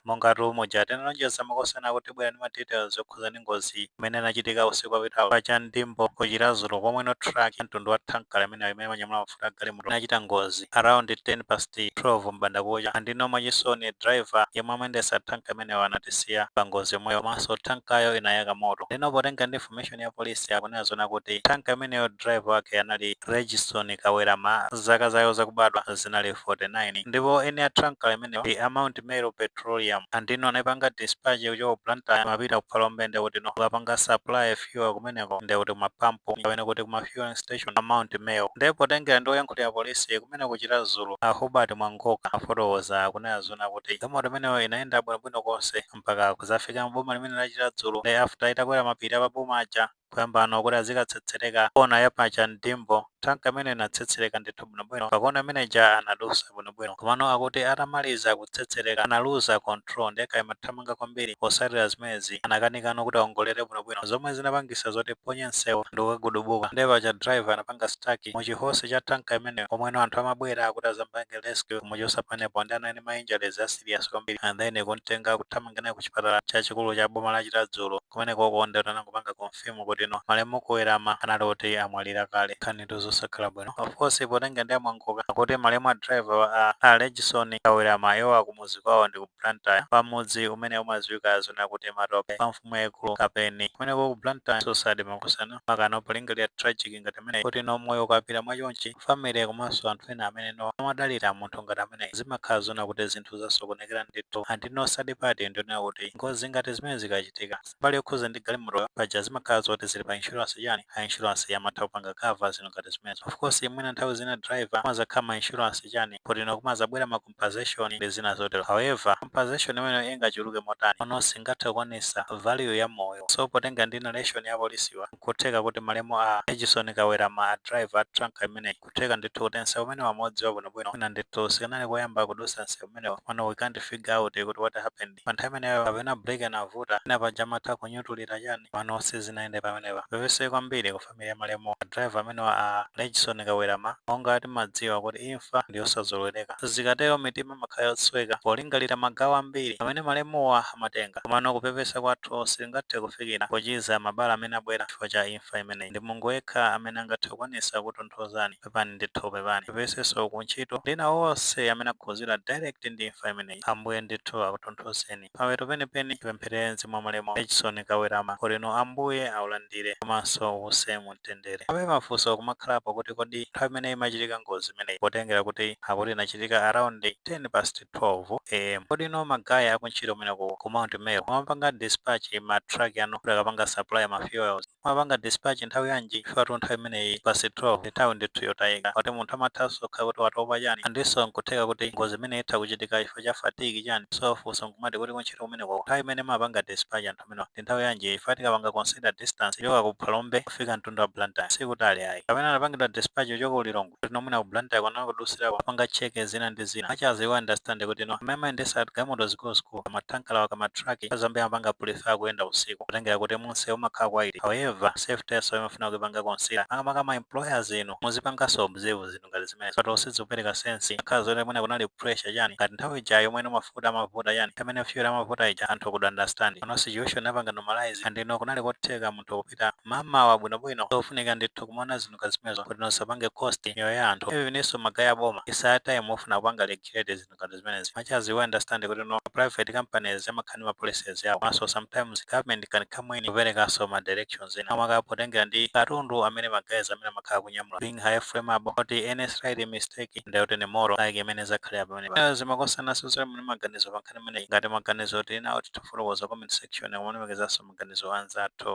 mongatu muja tinalonjeza makosana kuti bwera ndi ma details okhuza ndi ngozi imene inachitika usiku wapitawo pa cha ndimbo ku chiradzulu pomwe no truck ya mtundu wa tankala imeneyo imene imanyamula mafuta a galimoto inachita ngozi around 10 past 12 m'bandakucha andino mwachisoni driver yemwe amayendesa tanka imeneyo anatisiya pa ngozi yomweyo komanso tankayo inayaka moto ndino potenga ndi information ya polisi akunena zona kuti tanka imeneyo driver wake anali regison kawerama zaka zawo zakubadwa zinali 49 ndipo eni a tankala imeneyo ndi a mount Meru Petroleum and ino anapanga dispatch kuchoka ku Blantyre amapita ku Phalombe ndi kuti no akapanga supply fuel kumeneko ndi kuti kumapampu kapena kuti kuma fueling station a Mount Meru ndiye potengera ndi oyankhulira polisi kumeneko ku Chiradzulu a Hubert Mwangoka afotokoza kunena zona kuti galimoto imeneyo inayenda bwinobwino konse mpaka kuzafika mboma limeneli la Chiradzulu nde after itakwera mapiri a pa boma aja kuyambano kuti azikatsetsereka kona ya pa cha ndimbo tanka imeneyo inatsetsereka ndithu bwinobwino pakona imene ija anadusa bwinobwino komano akuti atamaliza kutsetsereka analuza control nde kaya imathamanga kwambiri potsatira zimenezi anakanikano kuti aongolere bwinobwino zomwe zinapangisa zoti iphonye msewu ndi kukagudubuka nde paja driver anapanga stuck mu chi horse cha tanka imeneyo komweno anthu amabwera akuti azampange rescue kumuchosa pamenepo nde anali ndi ma injuries a serious kwambiri and then kumtenga kuthamanga naye ku chipatala chachikulu cha boma la chiradzulu kumenekoko ndithu anangopanga confirm kutino malemu kawerama anali oti amwalira kale nkhanitu zosakhala bwino of course potenga ndi amwangoka akuti malemu a driver wa a a regison kawerama iwo akumuzi kwawo ndi ku blantyre pa mudzi umene umaziwika zona kuti matope pa mfumu yaikulu kapeni kumeneko ku blantyre so sad makosana makano polingalira tragedy ngati imeneyi kutino moyo ukapita mwachonchi family komanso anthu ena amene no amadalira munthu ngati ameneyi zimakhala zoona kuti zinthu zasokonekera ndithu and no sad part ndiyonena kuti ngozi ngati zimenezi zikachitika mbali yokhuza ndi galimotoyo paja zimakhala zoti zili pa insurance chani a insurance amatha kupanga cover zinthu ngati zimenezi of course mwina nthawi zina driver kumazakhala ma insurance chani poti no kumazabwera ma compensation ndi zina zotero however compensation imeneyo ingachuluke motani pano singathe kukwanisa value ya moyo so potenga ndi narration ya apolisiwa nkutheka kuti malemu a Regison Kawerama a driver a tanker imeneyi nkutheka ndithu kuti nseu umenewu amaudziwa bwinobwino mwina ndithu sikanali koyamba kudusa nseu umenewu pano we can't figure out kuti what happened Pa nthawi imeneyo kapena break inavuta mwina paja amatha kunyutulira chani komano sizinayende pamenepa. Tipepese kwambiri ku family ya malemu a driver amenewa a Regison Kawerama monga tikudziwa kuti imfa ndiyosazolowereka. Zikatero mitima imakhala yosweka polingalira magawo ambiri amene malemuwa amatenga. Komano kupepesa kwathu sitingathe kufikira pochiza mabala amene abwera chifukwa cha imfa imeneyi. Ndi Mulungu yekha amene angathe kukwanisa kukutonthozani. pepani ndithu pepani tipepesenso kuntchito ndi ena onse amene akhudzidwa direct ndi imfa imeneyi ambuye ndithu akutonthozeni pawedo penipeni tipempherere mzimu wa malemu Edson Kawirama kuti no ambuye aulandire komanso uuse mu mtendere abe mafunso kumakhalapo kuti kodi nthawi imeneyi imachitika ngozi imeneyi potengera kuti akuti inachitika around 10 past 12 am kodi no magaya akuntchito kumeneko ku Mount Meru amapanga dispatch ma truck anu kuti akapange supply ma fuels Mumapanga dispatch nthawi yanji chifukwa nthawi imeneyi past 12 ndi nthawi ndithu yotayika moti munthu amathanso kukhala kuti watopa chani andinso nkutheka kuti ngozi imeneyi itha kuchitika chifukwa cha fatigue chani so funso nkumati kuti kuntchito kumenekoko nthawi imene mumapanga dispatch anthu amenewa ndi nthawi yanji chifukwa tikapanga consider distance kuchoka ku Phalombe kufika mzinda wa Blantyre sikutali ayi kapena anapangidwa dispatch kuchoka ku Lilongwe kuti no mwina ku Blantyre anakudutsirako apanga check zina ndi zina as much as we understand kuti no amene amayendetsa galimoto zikulu zikulu ma tanker awa ma truck ambiri amapanga prefer kuyenda usiku potengera kuti mumseu umakhala quiet however safety-nso imafuna kuipanga consider maka maka ma employers inu muzipanganso observe zinthu ngati zimenezi but sizikupereka sense chikhala zoti mwina kunali pressure chani ngati nthawi ija yomwe no mafuta amavuta chani amene fuel amavuta ija anthu could understand koma situation yapanga normalize and no kunali kotheka munthu kupita mamawa bwinobwino zofunika ndithu kumaona zinthu ngati zimenezo kuti no zisapange cost miyoyo ya anthu evennso magaye a boma it's high time akufuna kupanga regulate zinthu ngati zimenezi much as we understand kuti no private companies amakhala ndi ma policies yawo koma nso sometimes government can come in kuperekanso ma directions ena makamaka potengera ndi katundu amene magaye amenewa amakhala akunyamula being highly flammable kuti any slight mistake ndiye kuti ni more like mmene zakhalira pamenepa timasiyananso mmene maganizo pankhani imeneyi. Ngati maganizo tili nawo titha kufotokoza mu comment section kumalemekezanso maganizo a anzathu.